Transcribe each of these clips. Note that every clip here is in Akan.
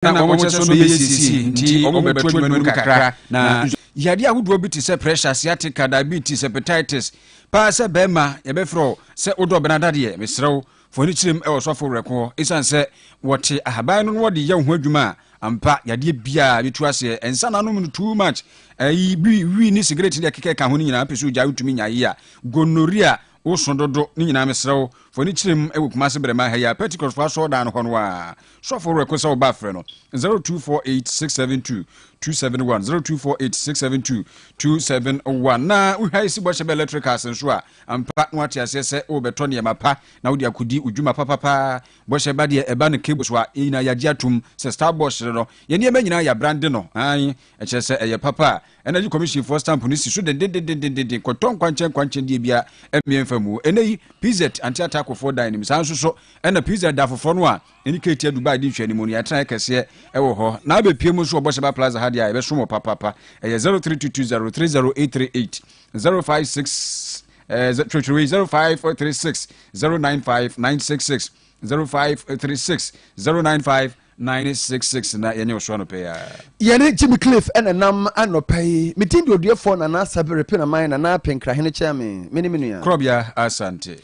na wɔn kyɛ so bɛyɛ nsiesie nti wɔbɛto adwuma no mu kakra na yadeɛ ahodoɔ bi te sɛ pressure sciatica diabetes hepatitis paa sɛ bɛrima yɛbɛfrɛ wo sɛ wodɔ ɔbɛn adadeɛ mesrɛ wo fo ani kyerɛm wɔ sɔfo werɛko hɔ ɛsiane sɛ wɔte ahaban no na wɔde yɛ wo ho adwuma a ampa yadeɛ biaa bɛtu aseɛ ɛnsa na anom no too much ayi bi wi ne sigaret ne deɛ kekɛ ka ho no nyinaa pɛ sɛ ogya wotumi nyaye a gonorrhea Wo so dodo ne nyinaa mesrɛ wo fa w'ani kyerɛ mu wɔ Kumasi Brema ha yi a Pentecost fo asɔrdan no hɔ no a sɔfo werɛ ko sɛ wo ba frɛ no 0248 672 271 0248 672 271 na wo hwa esi bɔhyɛ bɛ electricals nso a ampa na wate aseɛ sɛ wo bɛtɔ nneɛma pa na wode akodi wo dwuma papapa bɔhyɛ ba deɛ ɛba no cable so a yɛn nyinaa yɛagye atom sɛ star bɔhyere no yɛn nneɛma nyinaa yɛ abrande no an ɛkyerɛ sɛ ɛyɛ papa a Energy Commission foɔ stamp no si so dendendendendendendenn kɔtɔ nkwankyɛn nkwankyɛn deɛ bia ɛmmeɛ mfa mu. Ɛnɛ yi, PZ Ante Atako foɔ dan no mu. Saa nso so ɛna PZ da foforɔ no a ɛne Ketia Dubai di nhwɛanimu no, yɛatenaeɛ kɛseɛ ɛwɔ hɔ. Na abɛpue mu nso wɔ Bɔhyɛba Plaza ha deɛ a, ɛbɛsom wo papapa. Ɛyɛ 0322030838, 056 eh, twerɛtwerɛ wei, 0536 095 966, 0536 095 Nine six six na yɛnyɛ wo so anɔpɛ yi ara. Yɛne Jimmy Cliff na ɛnam anɔpa yi. Me din de Odiefoɔ Nana Asabe Repenaman Nana Apenkrahene Kyɛɛme. Me ne me nua. Korɔbea Asante.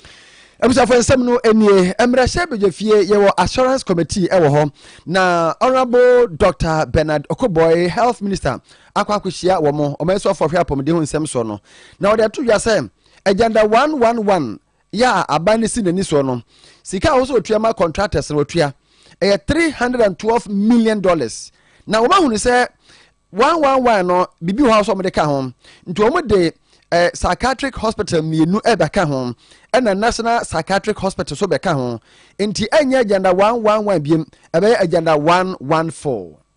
Abusuafoɔ nsɛm no nie, Mmarahyɛ Badwafie yɛwɔ Assurance Committee wɔ hɔ na Honourable Dɔkta Bernard Okoboy, Health Minister akɔ akɔhyia wɔn, Ɔmansuafoɔ a ɔhwɛ apɔmuden ho nsɛm soɔ no, na wɔde ato dwa sɛ Agenda one one one yɛ a aban no si n'ani soɔ no, sika a ɛwɔ sɛ wɔtua ma contractors no wɔtua. Ɛyɛ three hundred and twelve million dollars. Na wɔahunu sɛ one one one no biribi wɔ hɔ a wɔsɛ wɔde ka ho. Nti wɔde eh, psychiatric hospital mmienu ɛbɛka ho ɛna national psychiatric hospital so bɛka ho. Nti ɛnyɛ agenda one one one biem, ɛbɛyɛ agenda one one four.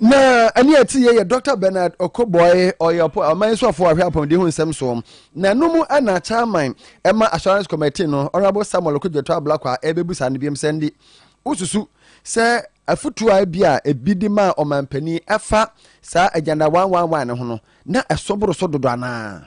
na ɛne ɛte yɛ yɛ dr bernard ɔkɔbɔe ɔyɛ ɔman nso afo ahwɛ apɔmuden ho nsɛm so na ɛno mu ɛna chairman ɛma assurance committee no honorable samuel okodwoto ablakwa ɛbɛbu saa no biom sɛ ndi wosusu sɛ afutuo a ebi a ebi de maa ɔmanpanin ɛfa saa agenda 111 no ho no na ɛso boro so dodo anaa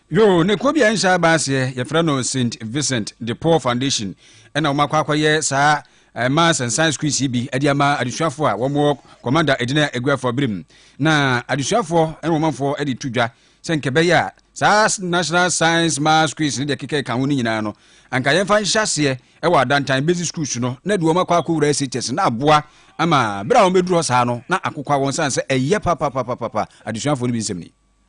Yoo, ne kuo bi a nhyɛ aba aseɛ, yɛfrɛ no Saint Vincent de Paul Foundation, ɛna wɔn akɔ akɔyɛ saa eh, Maths and Science quiz yi bi de ama adesuafoɔ a wɔn wɔ Commander Edina Eguafo abere mu. Na adesuafoɔ ne wɔn manfoɔ de to dwa sɛ nkɛbɛyɛ a saa National Science Maths quiz ne deɛ keka ɛka ho no nyinaa no, anka yɛmfa nhyɛ aseɛ wɔ adantan basic schools no na de wɔn akɔ akɔwura SHS na aboa ama berɛ a wɔbɛduru hɔ saa no na akokwa wɔn sane sɛ ɛyɛ papapapapa adesuafoɔ no bi nsɛm ni.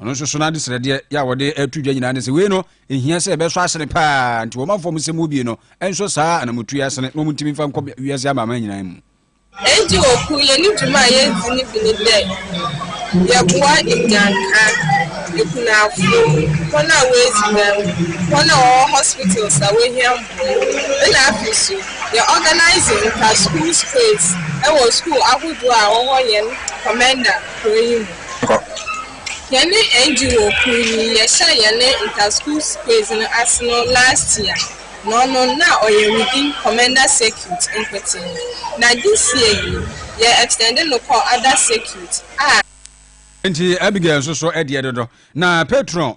Ɔno nso so no ade srɛdeɛ yɛ a wɔde ato dwa nyinaa ne sɛ wei no ɛhia sɛ ɛbɛsɔ asene paa nti wɔma fam sɛ mu bie no ɛnsɔ saa anamotuo asene na wɔntumi mfa nkɔ wiase amaaman nyinaa mu. Enti wɔku yɛne dwuma a yɛdzi no bi ne dɛ yɛboa nnyanka, akunafoɔ, hɔn a wɔadzi dɛm, hɔn a wɔwɔ hospitals a wɔhia mboa mu, nna afei so yɛ organise nyimpa, schools quiz, wɔ school ahodoɔ a ɔwɔ hɛn Komenda kurɔ yi mu. kɔ. Yɛne NGO kor yi yɛhyɛɛ yɛne Inter Schools Quiz no ase no last year na ɔno na ɔyɛ within Commenda Circuit nkotsee na this year yi yɛ extend no kɔ other circuit a Ntsi Abigail so so deɛ dodo na patron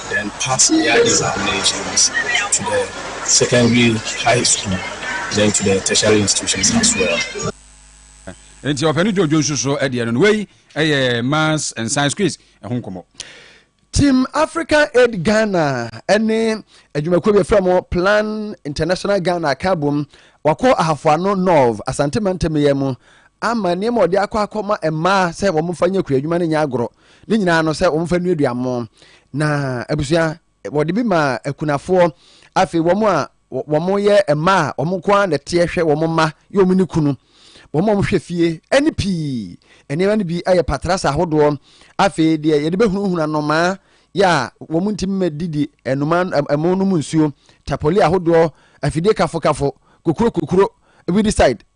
then pass dia examinations to the secondary, high school, then to the tertiary institutions as well. Nti ɔpɛni John Jones nso deɛ no, wei yɛ maths and science quiz ɛho nkɔmɔ. Team African Aid Ghana ɛne adwumakuo bi efra mo Plan International Ghana aka bom wakɔ Ahafoano North Asante Mantam yɛ mu ama nneɛma ɔde akɔ akɔ ma mmaa sɛ wɔn fa nyɛ kura adwuma ne nyɛ agorɔ ne nyinaa no sɛ wɔmfa nnuadua mo na abusua wɔde bi ma akunafoɔ afei wɔn a wɔn yɛ mma a wɔn nko ara na ɛteɛ hwɛ wɔn mma yɛ wɔn ne kunu wɔn a wɔhwɛ fie ɛne pii nneɛma no bi yɛ patrasa ahodoɔ afei deɛ yɛde bɛhunahuna nnomaa yɛ a wɔn ntumi ma didi nnomaa ɛmo no mu nsuo tapoli ahodoɔ afidie kafokafo kokuro kokuro weedicide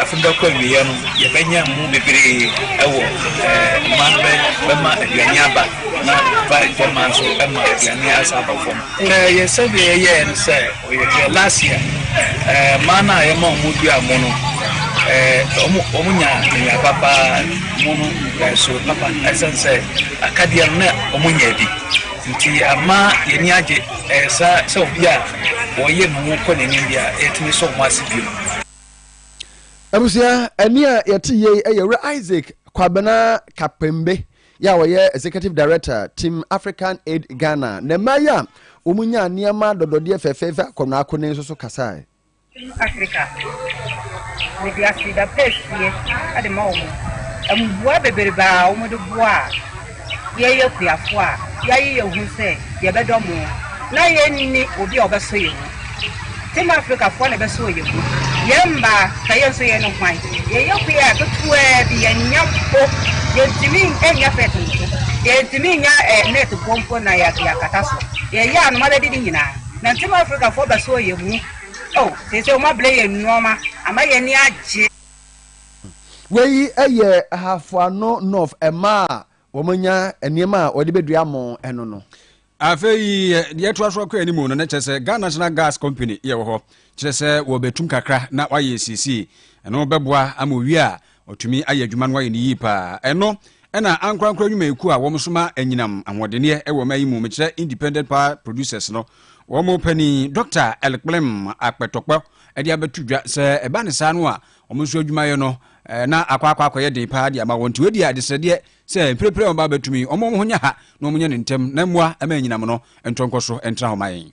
Afe no bɛkɔ awieɛ no, yɛbɛnya mmu bebree wɔ mmaa no bɛma aduane aba na vine fam mmaa nso ma aduane asan aba fam. Yɛn survey a yɛyɛɛ no sɛ ɔyɛ last year, mmaa no a yɛma wɔn dua mo no, wɔn nya nya papa mo no ɛso papa ɛsɛn sɛ akadeɛ no na wɔn nyɛ bi nti ama yɛn ani agye. Ɛyɛ saa sɛ obi a wɔyem ho kɔ n'anim deɛ a, yɛtumi sɔ wɔn ase bio. Abusua, ɛnne a yɛte yei yɛ Wura Isaac Kwabena Kapembe yɛ a ɔyɛ Executive Director Team African Aid Ghana na mmaa yi a wɔnyaa nneɛma dɔdɔdeɛ fɛfɛɛfɛ akɔnnɔakɔnnɔ yi nso so kasae. Africa mede aseda pa asie de ma wɔn mmoa bebrebe a wɔn de boa a yɛyɛ akuafoɔ a yɛaye yɛ ho sɛ yɛbɛdɔ mo na yɛnni obi a ɔbɛsɔ yɛ mu tem Africafoɔ na ɛbɛsɔ yɛ mu yɛ mmaa ka yɛ nso yɛ no hwan yɛyɛ akuaa ketewa bi yɛnyɛ mpo yɛntumi nyɛ fɛt mpo yɛntumi nyɛ net boɔ mpo na yɛakata so yɛyɛ anoma bɛdi ne nyinaa Nante ma Afrikafoɔ bɛsɔ yɛn mu oh Seesei wɔn abrɛ yɛn nnoɔma ama yɛn ani agye. Wei yɛ Hafoano North mmaa a wɔanya nneɛma a wɔde bɛdua mo no no. Afei yɛtoa so akɔ anim no na kyerɛ sɛ Ghana National Gas Company yɛwɔ hɔ kyerɛ sɛ wɔbɛtum kakra na wɔayɛ siesie ɛno bɛboa ama owie a Ɔtumi ayɛ adwuma no ayɛ no yie paa. Ɛno na ankorankoro adwumayɛkuo a wɔn soma anyinam ahoɔdenneɛ wɔ ɔman yi mu, mekyerɛ Independent Power Producers no, wɔn panin Dɔkta Elkplem Akpɛtɔkpɔ de abɛto dwa sɛ ɛba no saa no a, wɔn nso adwumayɛ no na akɔ akɔ akɔyɛ den paa de ama wɔn. Nti wei deɛ adesrɛdeɛ sɛ mprempren wɔn ba bɛtumi wɔn wɔn ho nyɛ ha na wɔn nyɛ no ntɛm na mmoa ɛma anyinam no ntɔ nkɔ so ntra hɔ ma yɛn.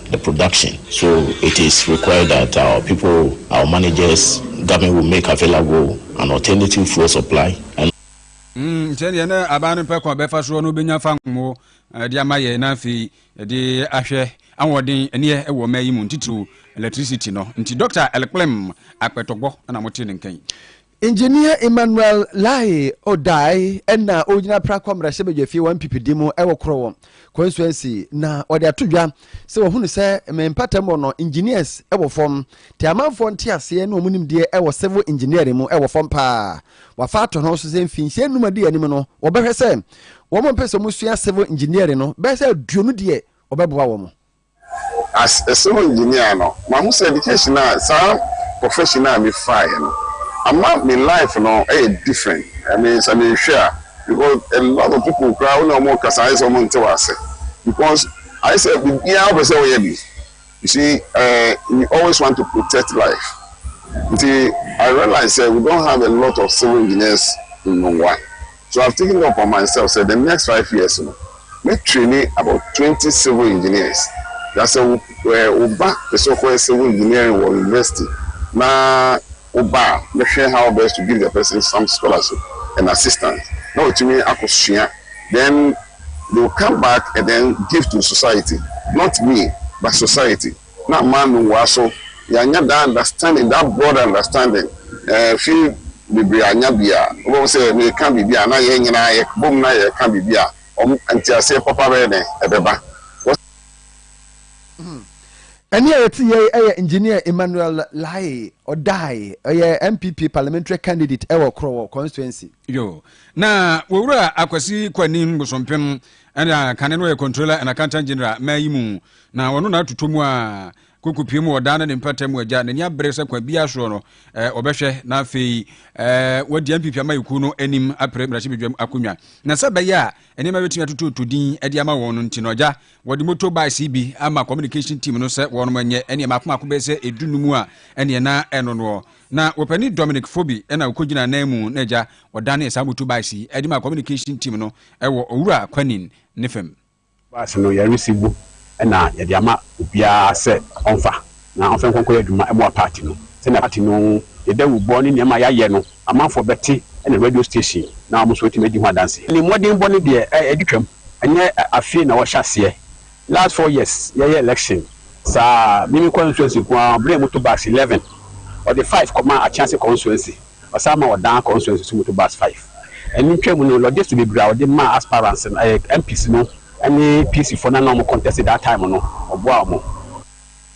the production so it is required that our people, our managers, government will make available an alternative fuel supply and. Mm, sɛdeɛ na aban no pɛ kwan bɛfa soɔ no bɛnya fa nwo de ama yɛn na afei de ahwɛ ahoɔden ɛneɛ ɛwɔ mmaa yi mu ntitiriw electricity no nti Dr. Elklem Akpɛtɔgbɔ na mote ne nkan. Engineer Emmanuel Laye Odae na ɔgyina Prako mmarahyɛbadwafie wɔn mpipidi mu wɔ Korowɔ constituency na ɔde ato dwa sɛ wɔhunu sɛ me mpatamu no engineers wɔ fam te amanfoɔ nteaseɛ ne wɔn nimdeɛ wɔ civil engineering mu wɔ fam paa wafa ato no so sɛ mfinhyia nnum adi anim no wɔbɛhwɛ sɛ wɔn mpɛ sɛ wɔsua civil engineering no bɛyɛ sɛ aduonu deɛ wɔbɛboa wɔn As a civil engineer no, mahu sɛ education a, saa profession a mefaeɛ no, ama me life no yɛ different. I mean, sɛ mehwɛ a, because a lot of people koraa wo ne wɔn rekasa ayɛ sɛ wɔnte wo ase, because ayɛ sɛ biribiara wopɛ sɛ woyɛ bi. You see, eh, you always want to protect life. Nti, I realize sɛ we don't have a lot of civil engineers in Nungua. So I've taken upon myself sɛ the next five years no mɛ traini about twenty civil engineers na sɛ wo ba pɛ sɛ ɔkɔyɛ civil engineering wɔ university na wo ba a mɛ hwɛ how best to give the person some scholarship and assistance na watumi akɔ sua then they will come back and then give to society not me but society. Na mma no ngua so yɛanya daa understanding daa broad understanding ɛɛ fie bebree anya bi a wobɛhu sɛ meka biribi a na yɛn nyinaa yɛ bom na yɛka biribi a wɔn nteaseɛ papa bɛyɛ dɛn ɛbɛba wɔ. Ɛnne a yɛte yɛ yi yɛ Engineer Emmanuel Laye Odaye, ɔyɛ NPP Parliamentary Candidate wɔ Krɔwɔ Constituency. Yo. Na Owura Akwasi Kwanim Bosompem ɛna kane no yɛ Controller and Accountant General ma yi mu Na ɔno na atotɔ mu a kokopie mu ɔdaa ne ne mpata mu agya n'ani abere sɛ kwan biara soɔ no eh, ɔbɛhwɛ na afei eh, wadi MPP amayɛkuo no anim apere mmarahyɛbadwam akonnwa na sɛ ɛbɛyɛ a nneɛma bɛtumi atotɔtɔ din de ama wɔn no nti no agya wɔde moto bikes bi ama communication team no sɛ wɔnom nyɛ ɛneɛ maako maako bɛyɛ sɛ ɛdu no mu a ɛneɛ na ɛno noɔ na wɔpɛni Dominic Fobi ɛna ɔkɔgyina nan mu na agya wɔdanee saa moto bikes yi de ma communication team no ɛwɔ owura kwanin ne fam Bus no yɛresi bo na yɛde ama obiara sɛ ɔmfa na ɔmfa nkɔ nkɔyɛ adwuma mmoa party no. Sɛnea party no yɛ dawubɔ ne nneɛma a yɛayɛ no amanfoɔ bɛte ne radio station na wɔn nso atumi adi ho adanse. Ne mmɔdenbɔ no deɛ adi twam. Ɛnyɛ afei na wɔhyɛ aseɛ. Last four years yɛyɛ election saa. Mimi Kɔɔ nsuansi nko ara bere a wɔto bus eleven wɔde five kɔmaa Akyease Consuancy. Ɔsan ma wɔdan constituency so motor bus five. Ɛno ntwa mu no, logistic bebree a wɔde maa aspirants no, ɛyɛ MPs no ne PC foɔ no a na wɔn contest that time no, wɔboaa wɔn.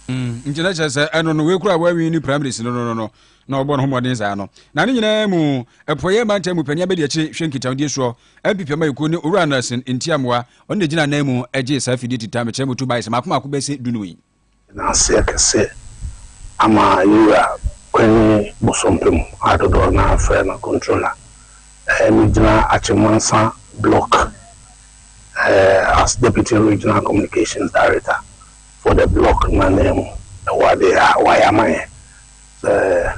Mm, nti na kyerɛ sɛ ɛno no wei kura wɔawi ne primaries no no no no na ɔbɔ ne ho mmɔden saa no na ne nyinaa mu ɛpɔyɛ mantam mu panyin abɛdi akyire hwɛ nkitahodie soɔ npp ama ɛkuo ne owura anderson ntiamoa ɔno na gyina nan mu ɛgye saa fidie tita mekyerɛ mu tu bae sɛ maako maako bɛsɛ dunum yi Yɛda ase kɛse ama yɛn wura Kwame Bosompem a dodoɔ no ara frɛ no Controller. Megyina Akyem-Mansa Block as Deputy Regional Communications Director for the block no ananmu wɔ adeɛ a wayɛ ama yɛn. Sɛ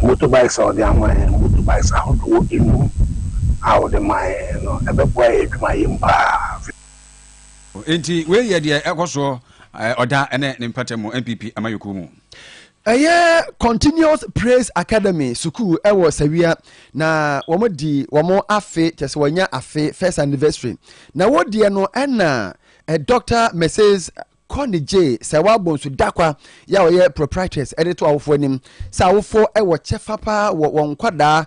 motorbikes a ɔde ama yɛn, motorbikes ahodoɔ nnum a ɔde maa yɛn no, ɛbɛboa yɛn adwumayɛ mu pa ara. Enti wei yɛ deɛ ɛkɔ soɔ ɔda ne ne mpata mu NPP amayɔkuo mu. Ɛyɛ Continuous Praise Academy sukuu wɔ Sawia na wɔn di wɔn afe kyɛ sɛ wɔnya afe first anniversary na wɔdiɛ no ɛna Doctor Mrs Connie J Sɛwa Bonsu Dakwa yɛ a ɔyɛ proprietress ɛde to awofoɔ anim sɛ awofoɔ wɔ kyɛfa paa wɔ wɔn nkwadaa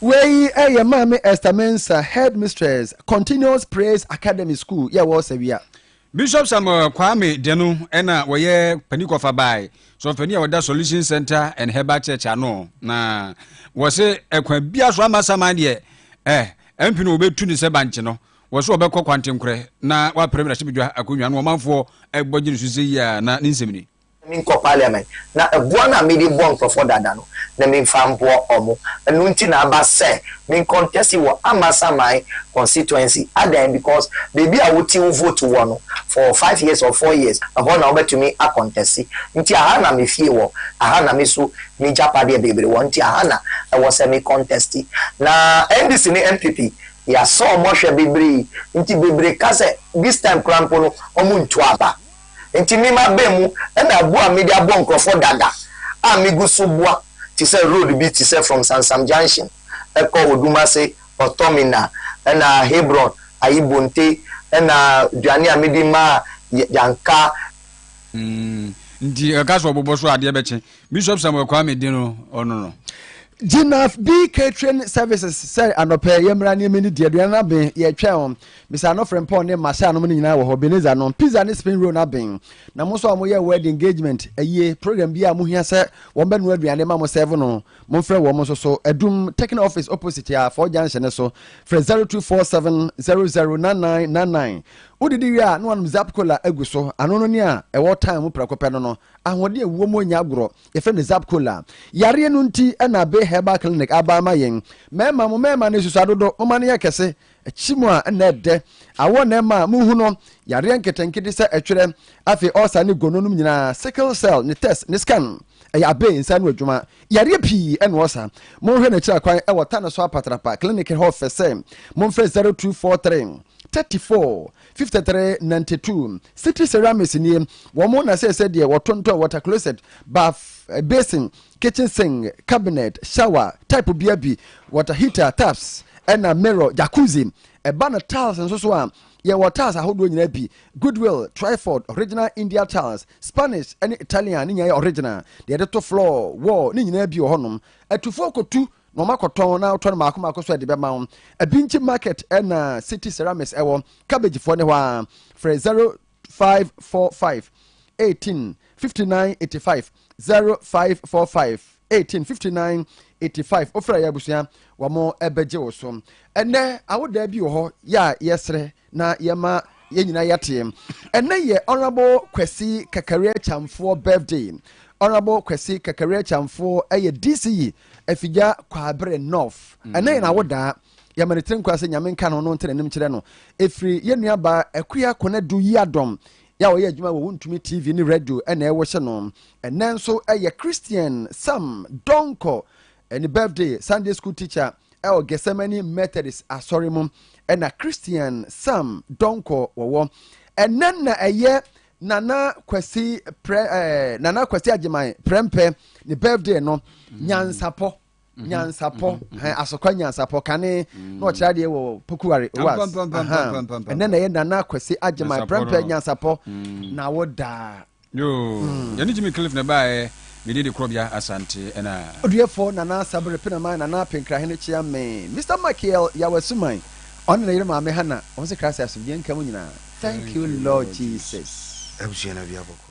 Wei yɛ Maame Esther Mensah, Headmistress, Continuous Praise Academy School yɛ wɔ Sawia. Bishop Samuel Kwame Deno na wɔyɛ panin kɔfa bae, sɔfopanin a ɔda Solution Center and Herbal Church ano, na wɔse ɛkwan bia so ama saman deɛ eh, MP no wɔbɛtu ne sɛ bankye no, wɔse wɔbɛkɔ kwantenkorɛ na wɔapere mmarahyɛbadwa akonnwa no, ɔmanfoɔ ɛbɔ gye ne so sɛ yia na ne nsɛm ni. na menkɔ parliament na ɛboɔ no a mede bɔ nkorɔfoɔ dada no na memfa mboɔ ɔmo ɛno nti na aba sɛ me contest wɔ Amasaman constituency adɛn because baabi a wote wo vote wɔ no for five years or four years ɛhɔ na wobɛtumi a contest nti aha na me fie wɔ aha na me so me gyapadeɛ bebree wɔ nti aha na ɛwɔ sɛ me contest na NDC ne NPP yɛasɔ ɔmo hwɛ bebree nti bebree ka sɛ this time koraa mpo no ɔmo ntu aba. Enti me m'abɛn mu na abu a mede abɔ nkurɔfoɔ dada a megu so boa te sɛ road bi te sɛ from Sansam Junction kɔ Odumase, Ortomina na Hebron, ayi Bonte na aduane a mede ma Yanka. Mm, nti ɛka sɛ ɔbobɔ so adeɛ bɛkye Bishop Samuel Kwame de no ɔno no. Gyinaf B Catering Services sɛ anɔpɛ yɛmmra ne yɛmɛni di aduane no aben yɛtwɛn wɔn Bisa no frempɔn ne masaa nom no nyinaa wɔ hɔ beneza nom pizza ne spain roll no aben na mo nso a mo yɛ wedding engagement ayie program bi a mo hia sɛ wɔn bɛ no aduane ma mo serve no mo nfrɛ wɔn nso so adum techno office opposite a fɔ junction ne so frɛ 0247009999 wo didi wie a na wɔnom zap cola agu so ano no nea ɛwɔ time mu prɛko pɛ no no ahoɔden ewuo mu nya agorɔ yɛfrɛ no zap cola yareɛ no nti ɛna be herbal clinic aba ama yɛn mɛɛma mo mɛɛma no esusu adodo mo ma no yɛ kɛse Akyi mu a nna ɛdɛ awɔ na ɛma muhu no yareɛ nketenkete sɛ ɛtwerɛ, afei ɔlsa ne gono nom nyinaa, sickle cell, ne test ne scan ɛyɛ abee nsa ano adwuma. Yareɛ pii ɛna ɔlsa. Monhwɛ n'akyiri akwan ɛwɔ Tano so Apatrapa clinic hɔ fɛ sɛ monfrɛ 0243 34 53 92. City Ceramics nie, wɔn na sɛsɛ deɛ wɔtontɔn water closet, bath basin, kitchen sink, cabinet, shower, type bia bi, water heater, taps, ɛna mirror, jacuzzi. Ɛba no tiles nso so a, yɛwɔ tiles ahodoɔ nyinaa bi, Goodwill, Twyford, original India tiles, Spanish ne Italian ne nyinaa yɛ original. Deɛ yɛde to floor, wall ne nyinaa bi wɔ hɔnom. Atufoɔ kɔtu na wɔn akɔtɔn na wotɔ no mako mako so de bɛma wo. Abinkyi market ɛna City Ceramics ɛwɔ, Cabbagefoɔ ne hɔ ara. Frɛ 0. five four five eighteen fifty nine eighty five zero five four five eighteen fifty nine eighty five ofura yɛ abusua wɔn ɛbɛgye wo so ɛnɛ awodaa bi wɔ hɔ yɛ a yɛsrɛ na yɛma yɛn nyinaa yɛteɛ ɛnɛ yɛ ɔnrabo kwasi kakaria kyamfoɔ birthday ɔnrabo kwasi kakaria kyamfoɔ ɛyɛ dc yi afigya kwabrɛ north ɛnɛ yɛ na awodaa. yɛ mene tiri nkwa sɛ nyame nka no no ntena anim kyerɛ no ɛfiri yɛ nua ba akuya kɔnɛ do yi adɔm yɛ a wɔyɛ adwuma wɔ wontumi tv ne radio ɛna ɛwɔ hyɛ no ɛnɛ nso ɛyɛ christian sam dɔnkɔ ɛne birthday sunday school teacher ɛwɔ gethsemane methodist asɔre mu ɛna christian sam dɔnkɔ wɔwɔ ɛnɛ na ɛyɛ nana kwasi prɛ ɛɛ nana kwasi agyeman prɛmpɛ ne birthday no mm. nyansapɔ. mhm. nyansapɔ mhm. asokwa nyansapɔ kane na ɔkyerɛ adeɛ wɔ pokuware was ɛnɛ na ɛyɛ nana kwasi agyema prɛmprɛ nyansapɔ mm. na wo daa mm. yɛne gyimi cliff na ɛbaɛ mede de korɔbea asante ɛna ɔduɛfoɔ nana asabere penama nana penkrahene kyea me mr michael yawasuman ɔne ne yere maame hana ɔm sɛ krase asomdwoeɛ nka mu nyinaa thank you lord jesus abusua no aduabɔkɔ